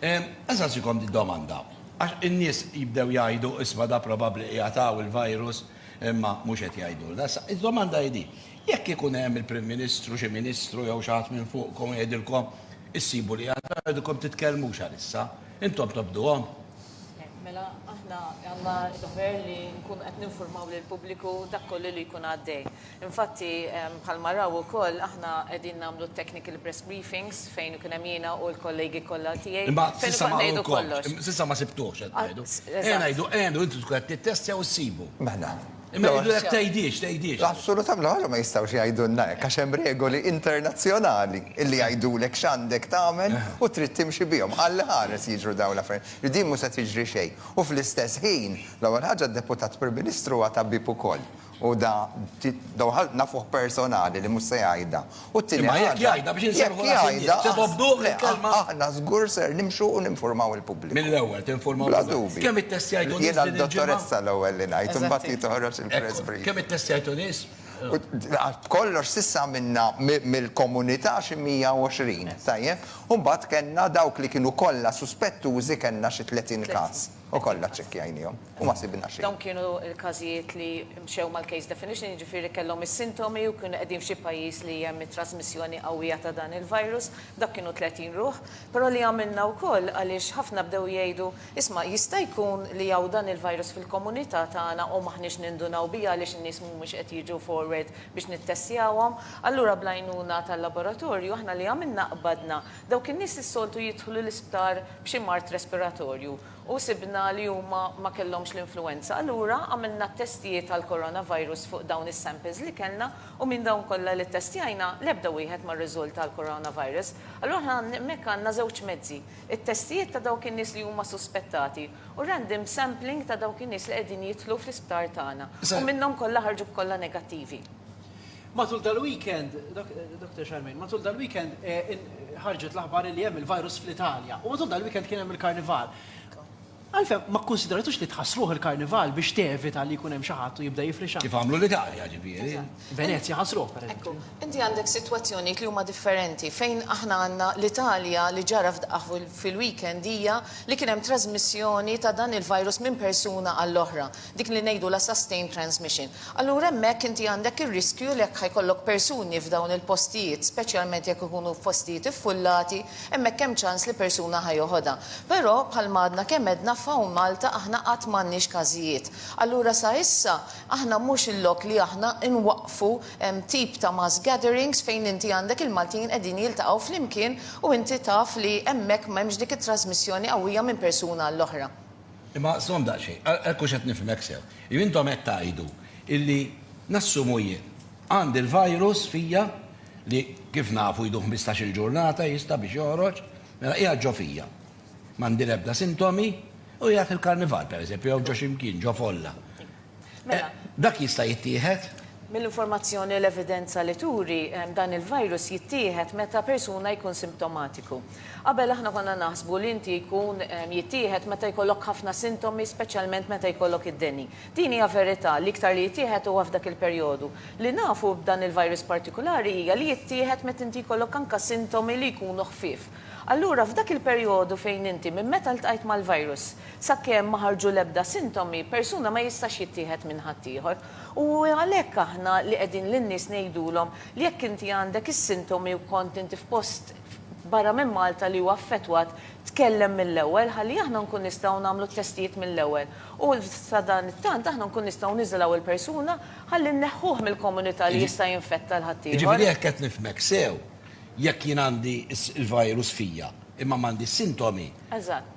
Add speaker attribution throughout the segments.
Speaker 1: Insaqsikom din domanda, għax in-nies jibdew jgħidu isma' da probabbli qiegħed hawn il-virus imma mhux qed jgħidulna. Issa, id-domanda hi din, jekk ikun hemm il-Prim Ministru, xi Ministru jew xi ħadd minn fuqkom jgħidilkom issibu li għad ma jridilkom titkellmux għalissa, intom tobduhom? Mela,
Speaker 2: aħna għandna d-dover li nkunu qed ninfurmaw lill-pubbliku dak kollu li jkun għaddej. Infatti, bħalma raw ukoll, aħna qegħdin nagħmlu t-technical press briefings fejn ikun hemm jiena u l-kollegi kollha tiegħi, fejn ukoll ngħidu kollox. Imma s'issa ma għamlukomx, s'issa ma sibtuhx qed
Speaker 1: tgħidu. Ejja ngħidu, ejja ngħidu li intom tkunu qed tittestjaw u ssibu. Mela. Imma
Speaker 3: jgħidulek
Speaker 1: tgħidhiex, tgħidhiex. Assolutament, laqas ma
Speaker 3: jistgħux jgħidulna hekk għax hemm regoli internazzjonali li jgħidulek x'għandek tagħmel u trid timxi bihom. Alla iħares jiġru dawn l-affarijiet. Din mhux se tiġri xejn. U fl-istess ħin, l-ewwel ħaġa d-Deputat Prim Ministru huwa tabib ukoll. U da, dawn nafuh personali li mhux se jgħidha. U t-tieni ħaġa. Imma jekk jgħidha biex
Speaker 1: inserrħu raħ in-nies. Se tobduh il-kelma? Le, aħna żgur ser
Speaker 3: nimxu u ninfurmaw il-pubbliku. Mill-ewwel tinfurmaw il-pubbliku. Bla
Speaker 1: dubju. Kemm ittestjajtu nies
Speaker 3: din il-ġimgħa? Jiena
Speaker 1: d-dottoressa
Speaker 3: l-ewwel li ngħid, imbagħad hi toħroġ il-press briefing. Kemm ittestjajtu
Speaker 1: nies?
Speaker 3: B'kollox s'issa għamilna mill-komunità xi 120, tajjeb? U mbagħad kellna dawk li kienu kollha suspettużi kellna xi 30 każ. U kollha ċċekkjajniehom u ma sibna xejn. Dawn kienu l-każijiet
Speaker 2: li mxew mal-case definition, jiġifieri kellhom is-sintomi u kienu qegħdin f'xi pajjiż li hemm it-trasmissjoni qawwija ta' dan il-virus. Dak kienu 30 ruħ. Però li għamilna wkoll għaliex ħafna bdew jgħidu, isma' jista' jkun li hawn dan il-virus fil-komunità tagħna u m'aħniex nindunaw biha għaliex in-nies mhumiex qed jiġu forward biex nittestjawhom. Allura bl-għajnuna tal-laboratorju aħna li għamilna qbadna Dawk in-nies li s-soltu jidħlu l-isptar b'xi mard respiratorju u sibna li huma ma kellhomx l-influwenza. Allura għamilna t-testijiet għall-coronavirus fuq dawn is-samples li kellna u minn dawn kollha li ttestjajna l-ebda wieħed ma rriżulta għall-coronavirus. Allura aħna hemmhekk għandna żewġ mezzi, it-testijiet ta' dawk in-nies li huma suspettati u random sampling ta' dawk in-nies li qegħdin jidħlu fl-isptar tagħna u minnhom kollha ħarġu kollha negattivi. Matul
Speaker 4: dal-weekend, Dr. Charmaine, matul dal-weekend eh, ħarġet l-aħbar li hemm il-virus fl-Italja u matul dal-weekend kien hemm il-karnival. Għalfem, ma konsideratux li tħasruħ il-karnival biex tevita li jkun hemm xi ħadd u jibda jifrixa. Kif għamlu l-Italja
Speaker 1: ġifieri. Venezia ħasruħ
Speaker 4: per Ekku, inti għandek
Speaker 2: sitwazzjonijiet li huma differenti fejn aħna għandna l-Italja li ġara f'daqaħ fil-weekend hija li kien hemm trasmissjoni ta' dan il-virus minn persuna għall-oħra. dik li ngħidulha sustained transmission. Allura hemmhekk inti għandek ir-riskju li jekk ħa jkollok persuni f'dawn il-postijiet, speċjalment jekk ikunu f'postijiet iffullati, hemmhekk hemm ċans li persuna ħa joħodha. Però, bħalma għadna kemm għedna, f'hawn Malta aħna qatt m'għandniex każijiet. Allura sa issa aħna mhux il-lok li aħna nwaqqfu tip ta' mass gatherings fejn inti għandek il-Maltin qegħdin jiltaqgħu flimkien u inti taf li hemmhekk m'hemmx dik it-trasmissjoni qawwija minn persuna għall-oħra. Imma stom
Speaker 1: daqsxejn, hekk hux qed nifhmek sew. Jew intom qed tgħidu illi, nassumu jien, għandi l-virus fija li kif nafu jdu ħmistax-il ġurnata jista' biex joħroġ, mela qiegħed ġo fija, m'għandi l-ebda sintomi u qiegħed fil-Karnival pereżempju jew ġo xi mkien, ġo folla. Mela. Dak jista' jittieħed? Mill-informazzjoni
Speaker 2: u l-evidenza li turi, dan il-virus jittieħed meta persuna jkun simptomatiku. Qabel aħna konna naħsbu li inti jkun jittieħed meta jkollok ħafna sintomi speċjalment meta jkollok id-deni. Din hija verità, l-iktar li jittieħed huwa f'dak il-perjodu. Li nafu b'dan il-virus partikulari hija li jittieħed meta inti jkollok anke sintomi li jkunu ħfief. Allura f'dak il-perjodu fejn inti minn meta ltqajt mal-virus sakemm ma ħarġu l-ebda sintomi, persuna ma jistax jittieħed minn ħaddieħor. U għalhekk aħna li qegħdin lin-nies ngħidulhom li jekk inti għandek is-sintomi u kont inti f'post barra minn Malta li hu affettwat, tkellem mill-ewwel ħalli aħna nkun nistgħu nagħmlu t-testijiet mill-ewwel u sadanittant aħna nkun nistgħu niżilgħu il-persuna ħalli nneħħuh mill-komunità li jista' jinfetta l-ħaddieħor. Jiġifieri jekk qed nifhmek
Speaker 1: sew, Jekk jien għandi l-virus fija imma m'għandi s-sintomi,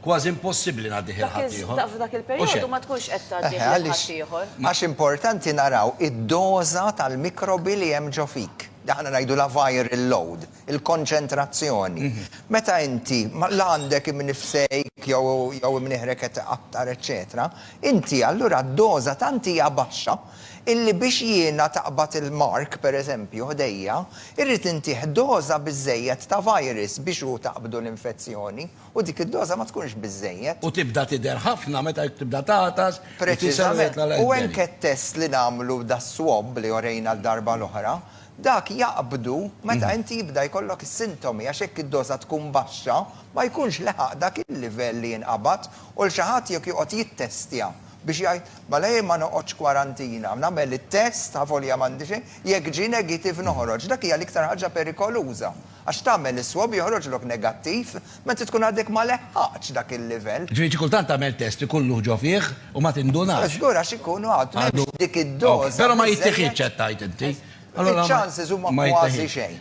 Speaker 1: kważi
Speaker 2: impossibbli
Speaker 1: ngħaddih 'il ħaddieħor. Dak f'dak il-perjodu ma
Speaker 2: tkunx qed tgħaddih lil ħaddieħor. Għax importanti
Speaker 3: naraw id-doża tal-mikrobi li hemm ġo fik. Aħna ngħidulha viral load, il-konċentrazzjoni. Meta inti la għandek imnifsejk jew imnieħrek qed iqattar eċċetera, inti allura d-doża tant hija baxxa illi biex jiena taqbad il-mark, pereżempju, ħdejja, irrid intih doża biżżejjed ta' virus biex hu taqbdu l-infezzjoni u dik id-doża ma tkunx biżżejjed. U tibda
Speaker 1: tidher
Speaker 3: ħafna
Speaker 1: meta tibda tagħtas, itisel u jitla' l-għeżberi. Preċiżament.
Speaker 3: U anke t-test li nagħmlu das-swab li orejna d-darba l-oħra, dak jaqbdu meta inti jibda jkollok is-sintomi għax jekk id-doża tkun baxxa ma jkunx leħaq dak il-livell li jinqabad u l xi ħadd jekk joqgħod jittestja biex jgħid, mela jien ma noqgħodx kwarantina, nagħmel it-test, avolja m'għandi xejn, jekk ġie negative noħroġ. Dak hija l-iktar ħaġa perikoluża, għax tagħmel is-swab joħroġlok negattiv meta tkun għadek ma leħħaqtx dak il-livell. Ġifieri xi kultant tagħmel
Speaker 1: test ikun luħ ġo fih u ma tindunax. Żgur għax ikun għad
Speaker 3: m'hemmx dik id-doża
Speaker 1: biżżejjed.
Speaker 3: Però ma
Speaker 1: jittiħidx qed
Speaker 3: tgħid
Speaker 1: inti.
Speaker 3: Allura
Speaker 1: ma
Speaker 3: jittiħidx. Iċ-chances
Speaker 1: huma
Speaker 3: kważi
Speaker 1: xejn.